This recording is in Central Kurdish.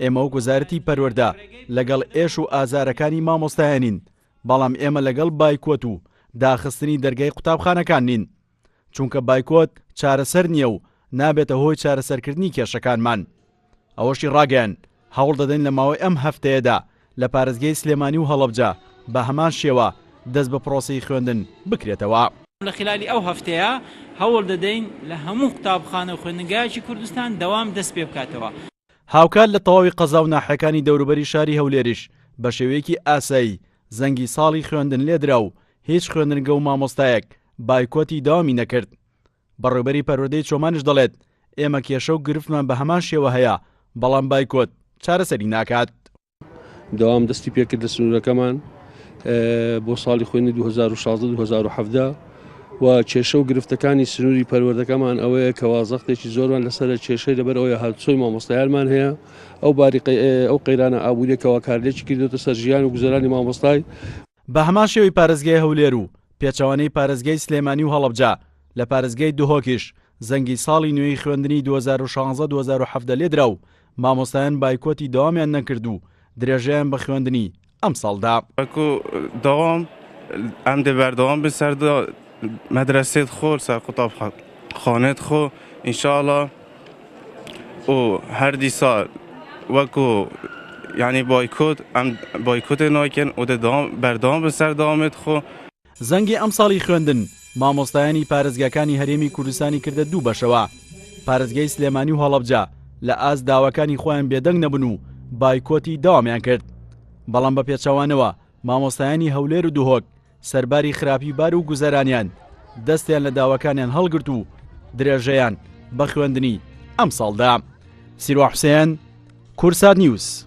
ئێمە وەک وەزارەتی پەروەردە لەگەڵ ئێش و ئازارەکانی مامۆستایانین، بەڵام ئێمە لەگەڵ بایکۆت و داخستنی دەرگای قوتابخانەکان نین، چونکە بایکۆت چارەسەر نییە و نابێتە هۆی چارەسەرکردنی کێشەکانمان. ئەوەشی ڕاگەیاند، هەوڵدەدەین لە ماوەی ئەم هەفتەیەدا لە پارێزگای سلێمانی و هەڵەبجە بە هەمان شێوە دەست بە پرۆسەی خوێندن بکرێتەوە. لە خلالی ئەو هەفتەیە هەوڵدەدەین لە هەموو قوتابخانە و خوێندنگایەکی کوردستان دەوام دەست پێبکاتەوە. هاوکات لە تەواوی قەزا و ناحیەکانی دەوروبەری شاری هەولێریش بە شێوەیەکی ئاسایی زەنگی ساڵی خوێندن لێدرا و هیچ خوێندنگە و مامۆستایەک بایکۆتی دەوامی نەکرد. بەڕێوبەری پەروەردەی چۆمانیش دەڵێت، ئێمە کێشە و گرفتمان بە هەمان شێوە هەیە، بەڵام بایکۆت چارەسەری ناکات. دەوام دەستی پێکرد لە سنوورەکەمان بۆ ساڵی خوێنی 2016 و کێشە و گرفتەکانی سنووری پەروەردەکەمان ئەوەیە کە وازەختێکی زۆرمان لەسەر کێشەی لەبەر ئەوەیە هاتچۆی مامۆستایانمان هەیە ئەو باری ئەو قەیرانە ئابووریەکەەوە کارلێکی کردوتە سەر ژیان و گوزەرانی مامۆستای بە هەمان شێوەی پارێزگای هەولێر و پێچەوانەی پارێزگای سلێمانی و هەڵەبجە لە پارێزگای دهۆکیش زەنگی ساڵی نوێی خوێندنی 2016 2017 لێدرا و مامۆستایان بایکۆتی دەوامیان نەکرد و درێژەیان بە خوێندنی ئەمساڵ دا. وەکو دەوام ئەم دێ بەردەوام بێ سەر مەدرەسێت خۆ سەر قوتابخانێت خۆ ئینشاڵا و هەردی ساڵ وەکو یعنی بایکۆت ئەم بایکۆتێ ناکەن و دەوام بەردەوام بێ سەر دەوامێت خۆ. زەنگی ئەمساڵی خوێندن مامۆستایانی پارێزگاکانی هەرێمی کوردستانی کردە دوو بەشەوە، پارێزگای سلێمانی و هەڵەبجە لە ئاست داواکانی خۆیان بێدەنگ نەبوون و بایکۆتی دەوامیان کرد، بەڵام بە پێچەوانەوە مامۆستایانی هەولێر و دهۆک سەرباری خراپی بار و گوزەرانیان دەستیان لە داواکانیان هەڵگرت و درێژەیان بە خوێندنی ئەمساڵ دا. سیروان حوسێن، کورسات نیوز.